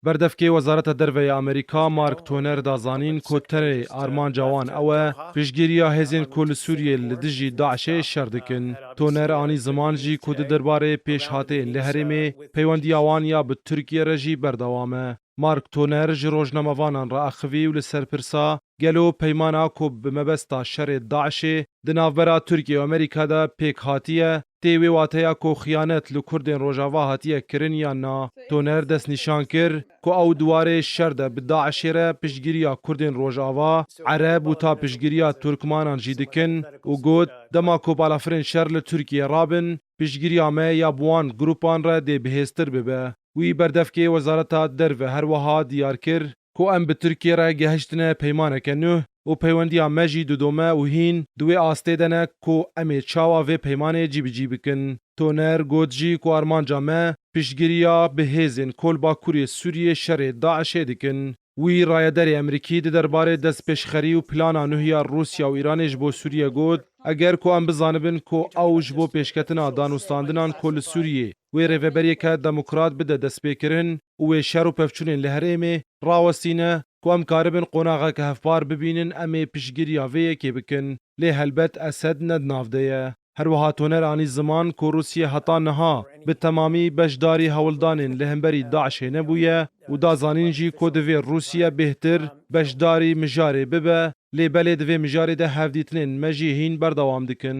Berdevkê Wezareta Derve ya Amerîka Mark Toner da zanîn ku tenê armanca wan ew e piştgiriya hêzên ku li Sûriyê li dijî DAIŞ'ê şer dikin. Toner anî ziman jî ku di derbarê pêşhateyên li herêmê peywendiya wan ya bi Tirkiye re jî berdewam e. Mark Toner ji rojnamevanan re axivî û li ser pirsa gelo peymana ku bi mebesta şerê DAIŞ'ê di navbera Tirkiye û Amerîka de pêk hatiye, Tê wê wateya ku xiyanet li Kurdên Rojava hatiye kirin yan na? Toner destnîşan kir ku ew di warê şer de bi DAIŞ'ê re piştgiriya Kurdên Rojava, Ereb û ta piştgiriya Turkmanan jî dikin û got, Dema ku balafirên şer li Tirkiyeyê rabin, piştgiriya me ya bi wan grûpan re dê bihêztir bibe. Wî berdevkê Wezareta Derve her wiha diyar kir, Ku em bi Tirkiyê re gehiştine peymaneke nû û peywendiya me jî didome û hîn di wê astê de ne ku em ê çawa vê peymanê cîbicî bikin. Toner got jî ku armanca me piştgiriya bi hêzên ku li bakurê Sûriyê şerê DAIŞ'ê dikin. Wî rayederê Emerîkî di derbarê destpêşxerî û plana nûh ya Rûsya û Îranê ji bo Sûriye got, Eger ku em bizanibin ku ew ji bo pêşketina danûstandinan ku li Sûriyê wê rêveberiyeke demokrat bide destpêkirin û wê şer û pevçûnên li herêmê rawestîne ku em karibin qonaxeke hevpar bibînin em ê piştgiriya vê yekê bikin. Lê helbet Esed ne di nav de ye. Herwiha toner anî ziman ku Rûsye heta niha bi temamî beşdarî hewldanên li hemberî DAIŞ'ê nebûye û da zanîn jî ku divê Rûsye bêhtir beşdarî mijarê bibe Lê belê di vê mijarê de hevdîtinên me jî hîn berdewam dikin.